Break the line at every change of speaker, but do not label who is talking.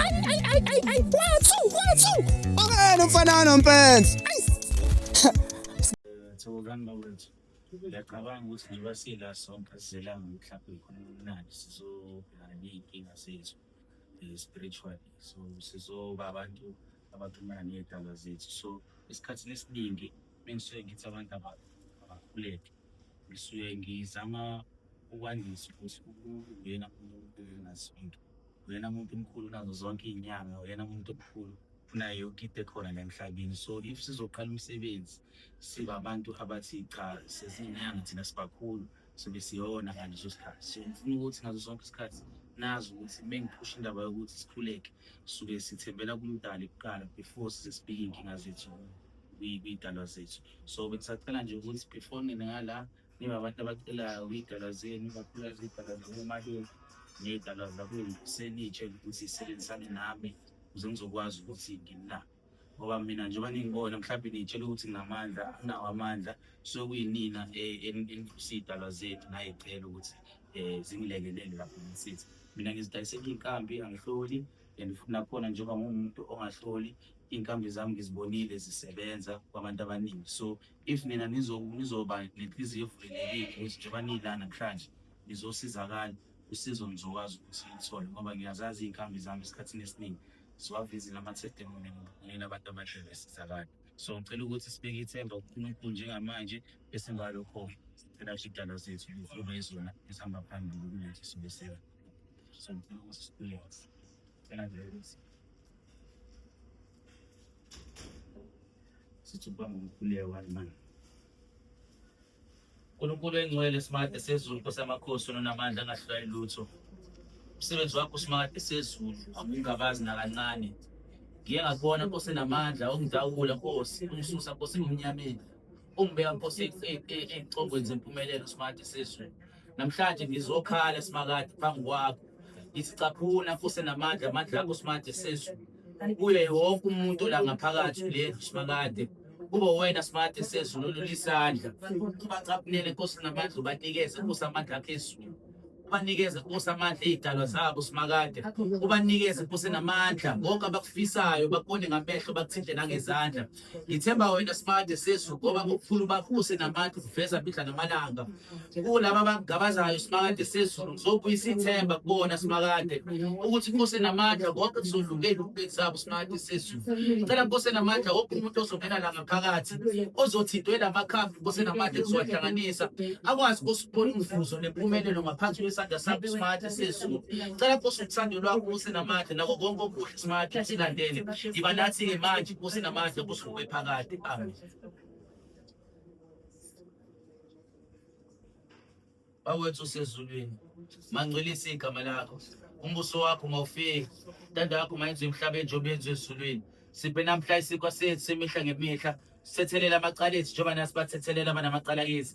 Ayi ayi ayi ayi ayi kwathu kwathu. Akena umfana nompenzi.
Thokozani bawethu. Ngiyacabanga ukuthi njengoba sila sonke sizelanga mhlawumbe khona umnandi sizobhekana ney'nkinga zethu eh, spiritually so sizoba abantu abaxhumana ney'dalwa zethu so esikhathini esiningi bengisuke ngithi abantu aba- abakhuleke ngisuke ngizama ukwandisa ukuthi umuntu uyena umuntu enazonto uyena muntu omkhulu unazo zonke iy'nyanga uyena muntu omkhulu unayo yonke into ekhona la emhlabeni so if sizoqala umsebenzi siba abantu abathi cha sezinyanga thina sibakhulu sobe siyona ngaleso sikhathi so ngifuna ukuthi ngazo zonke isikhathi nazi ukuthi mengiphusha indaba yokuthi sikhuleke suke sithembela kumdali kuqala before sisibhike inkinga zethu kuyidalwa zethu so bengisacela nje ukuthi before nina ngala niba abantu abacelayo kuyidalwa zenu bakhula zidalwa zakomalume ney'dalwa zakwenu senitshe ukuthi sisebenzisane nami ukuze ngizokwazi ukuthi ngina ngoba mina njengoba ningibona mhlawumbe niyitshela ukuthi nginamandla anginawo amandla so kuyinina eniphusa iy'dalwa zethu nayicela ukuthi um zingilekelele lapho ngisithi mina ngizidayisela iy'nkambi angihloli and futhi nakhona njengoba ngumuntu ongahloli inkambi zami ngizibonile zisebenza kwabantu abaningi so if nina nizoba nenhliziyo evulelekile ukuthi njengoba nila namhlanje nizosizakala usizo ngizokwazi ukuthi ngithole ngoba ngiyazazi iy'nkambi zami esikhathini esiningi ziwavizile amathedemoni nina abantu abahle besizakala so ngicela ukuthi sibeke ithemba kunkulunkulu njengamanje bese ngalokho sicela shidala zethu lizulu ezona esihamba phambili kulezi suku sithuba ngomkhuleko walimani uNkulunkulu engcwele simakade sezulu Nkosi yamakhosi onamandla angahlulayi lutho umsebenzi wakho simakade sezulu awungabazi nakancane ngiye ngakubona Nkosi enamandla ongidawula Nkosi ungisusa Nkosi ngimnyameni Ungibeka Nkosi ey'congweni zempumelelo Smart Siswe. Namhlanje ngizokhala Simakade phambi kwakho. Isicaphuna fuse namandla amandla akho Smart Siswe. Kuye wonke umuntu la ngaphakathi le Simakade. Kuba wena Smart Siswe lolu lisandla. Ubacaphunele Nkosi namandla ubanikeze kusamandla akhe ezulu. ubanikeze ukusa amandla iy'dalwa zabo simakade ubanikeze kuse namandla konke abakufisayo bakubone ngamehlo bakuthinte nangezandla ngithemba wena simakade sesu ngoba kukhulu bakuse namandla ukuveza bidla namalanga kulaba abangabazayo simakade sezulu ngizobuyisa ithemba kubona simakade ukuthi kuse namandla konke kuzodlungela ukubeki zabo simakade sezulu cela kuse namandla wonke umuntu ozongena la ngaphakathi ozothintwe la makhambi kuse namandla kuzowahlanganisa akwazi Thola umvuzo nempumelelo ngaphansi kwesandla sakho smart sezulu. Cela Nkosi uthando lwakho kuse namandla nako konke okuhle smart silandele. Yiba nathi ke manje kuse namandla kusuke phakade. Amen. Bawethu usezulwini. Mangcwelisa igama lakho. Umbuso wakho mawufike. Intando yakho mayenziwe emhlabeni njengoba yenziwe ezulwini. Siphe namhla isikwa sethu semihla ngemihla. Sithethelela amacala ethu njengoba nasibathethelela abanamacala kithi.